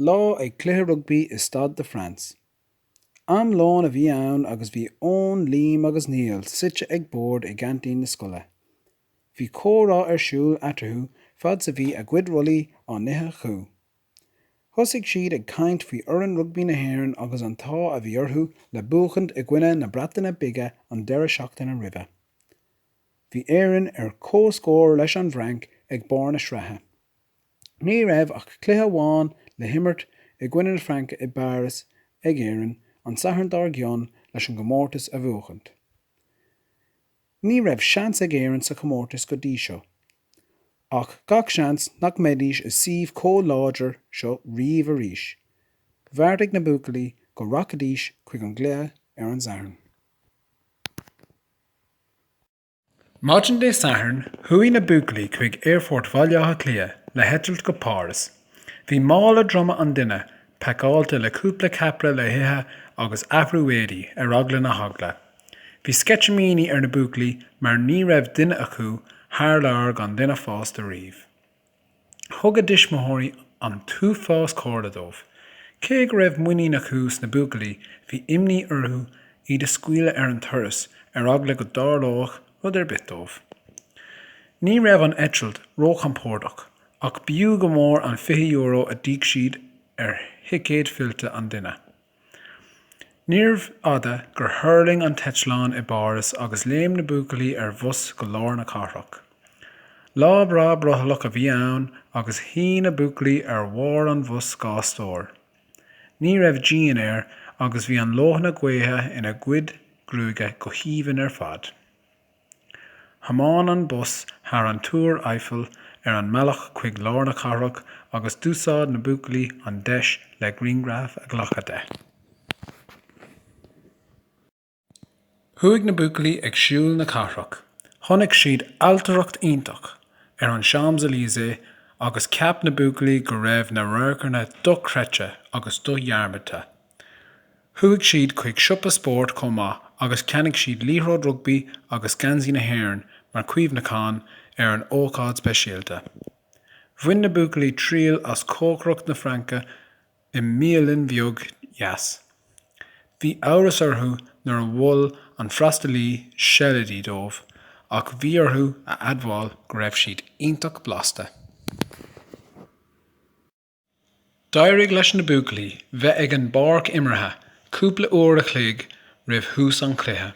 lá ag cluiche rugbaí i Stade de France. Am lóin a bhí ann agus bhí Eoin, Liam agus Niall suite ag bord i gceaintín na scoile. Bhí comhrá ar siúl eatarthu fad 's a bhí a gcuid rollaí á n-ithe acu. Thosaigh siad ag caint faoi fhoireann rugbaí na hÉireann agus an t-ádh a bhí orthu le buachaint i gcoinne na Breataine Bige an deireadh seachtaine roimhe. Bhí Éire ar comhscór leis an bhFrainc ag barr na sraithe. ní raibh ach cluiche amháin le himirt i gcoinne na Fraince i bPáras ag Éirinn an Satharn dár gcionn leis an gcomórtas a bhuachaint. Ní raibh seans ag Éirinn sa chomórtas go dtí seo, ach gach seans nach mbeidís i suíomh chomh láidir seo riamh arís. Bheartaigh na buachaillí go rachaidís chuig an gcluiche ar an Satharn. Maidin Dé Sathairn, chuaigh na buachaillí chuig Aerfort Bhaile Átha Cliath le heitilt go Páras. Bhí mála droma an duine pacáilte le cúpla ceapaire le hithe agus athrú éadaí, ar eagla na heagla. Bhí sceitimíní ar na buachaillí mar ní raibh duine acu thar lear gan duine fásta riamh. Thug a dtuismitheoirí an t-uafás comhairle dóibh. Cé go raibh muinín acu sna buachaillí, bhí imní orthu iad a scaoileadh ar an turas ar eagla go dtarlódh rud ar bith dóibh. Ní raibh an eitilt róchompordach ach b'fhiú go mór an €20 a d'íoc siad ar thicéad fillte an duine. Níorbh fhada gur thuirling an t-eitleán i bPáras agus léim na buachaillí ar bhus go lár na cathrach. Lá breá brothallach a bhí ann agus shuigh na buachaillí ar bharr an bhus dhá stór. Ní raibh díon air agus bhí an leoithne gaoithe ina gcuid gruaige go haoibhinn ar fad. Thiomáin an bus thar an Túr Eiffel ar an mbealach chuig lár na cathrach agus d'úsáid na buachaillí an deis le grianghraf a ghlacadh de. Chuaigh na buachaillí ag siúl na cathrach, chonaic siad ailtireacht iontach ar an Champs Elysées agus cheap na buachaillí go raibh na radharcanna dochreidte agus dodhearmadta. Chuaigh siad chuig siopa spóirt chomh maith agus cheannaigh siad liathróid rugbaí agus geansaí na hÉireann mar chuimhneachán ar an ócáid speisialta. Bhain na buachaillí triail as cócaireacht na Fraince i mbialann bheag dheas. Bhí amhras orthu nuair a mhol an freastalaí seilidí dóibh ach bhí orthu a admháil go raibh siad iontach blasta. D'éirigh leis na buachaillí bheith ag an bpáirc imeartha cúpla uair a chloig roimh thús an chluiche.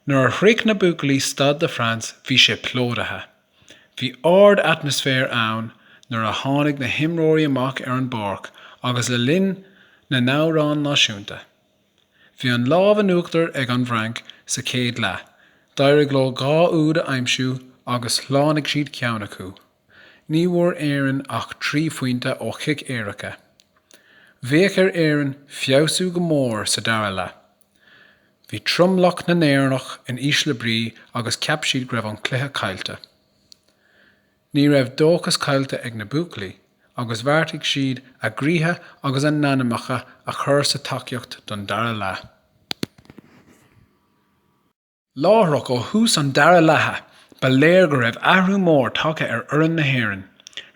Nuair a shroich na buachaillí Stade de France bhí sé plódaithe. Bhí ard atmaisféar ann nuair a tháinig na himreoirí amach ar an bpáirc agus le linn na n-amhrán náisiúnta. Bhí an lámh in uachtar ag an bhFrainc sa chéad leath, d'éirigh leo dhá úd a aimsiú agus shlánaigh siad ceann acu. Ní bhfuair Éirinn ach trí phointe ó chiceanna éirice. Bheadh ar Éirinn feabhsú go mór sa dara leath. Bhí tromlach na nÉireannach in ísle brí agus cheap siad go raibh an cluiche caillte. Ní raibh dóchas caillte ag na buachaillí agus bheartaigh siad a gcroíthe agus a n-anamacha a chur sa tacaíocht don dara leath. Láithreach ó thús an dara leatha, ba léir go raibh athrú mór tagtha ar fhoireann na hÉireann.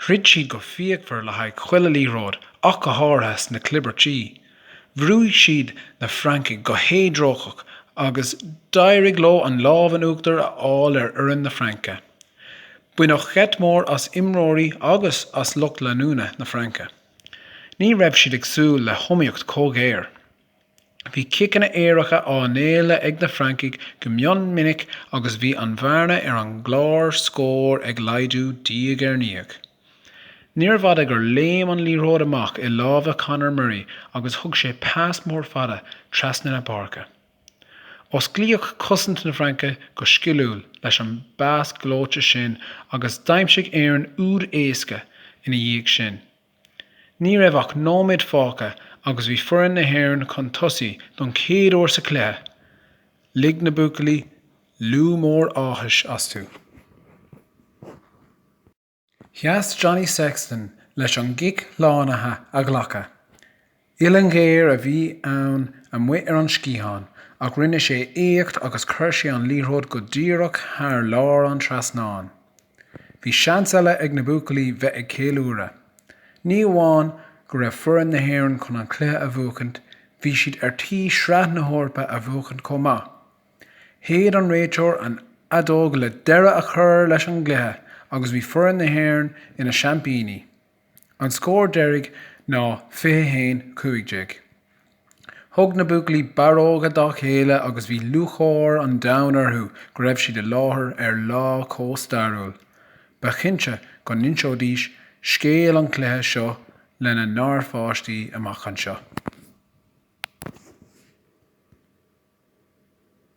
Throid siad go fíochmhar le haghaidh chuile liathróid ach go háirithe sna clibirtí. Bhrúigh siad na Francaigh go héadrócaireach agus d'éirigh leo an lámh in uachtar a fháil ar fhoireann na Fraince. Baineadh geit mór as imreoirí agus as lucht leanúna na Fraince. Ní raibh siad ag súil le hiomaíocht chomh géar. Bhí ciceanna éirice á ngéilleadh ag na Francaigh go mion minic agus bhí an bhearna ar an gclár scóir ag laghdú diaidh ar ndiaidh. Níorbh fhada gur léim an liathróid amach i lámha Conor Murray agus thug sé pas mór fada trasna na páirce. Osclaíodh cosaint na Fraince go sciliúil leis an bpas gleoite sin agus d'aimsigh Éirinn úd éasca ina dhiaidh sin. Ní raibh ach nóiméad fágtha agus bhí foireann na hÉireann chun tosaigh don chéad uair sa chluiche. Lig na buachaillí liú mór áthais astu. Sheas Johnny Sexton leis an gcic slánaithe a ghlacadh. Uillinn ghéar a bhí ann amuigh ar an sciathán, ach rinne sé éacht agus chuir sé an liathróid go díreach thar lár an trasnáin. Bhí seans eile ag na buachaillí bheith ag ceiliúradh. Ní amháin go raibh foireann na hÉireann chun an cluiche a bhuachaint, bhí siad ar tí Sraith na hEorpa a bhuachaint chomh maith. Shéid an réiteoir an fheadóg le deireadh a chur leis an gcluiche agus bhí foireann na hÉireann ina seaimpíní. An scór deiridh ná fiche haon, cúig déag. Thug na buachaillí barróga dá chéile agus bhí lúcháir an domhain orthu go raibh siad i láthair ar lá chomh stairiúil. Ba chinnte go n-inseoidís scéal an chluiche seo lena ngarpháistí amach anseo.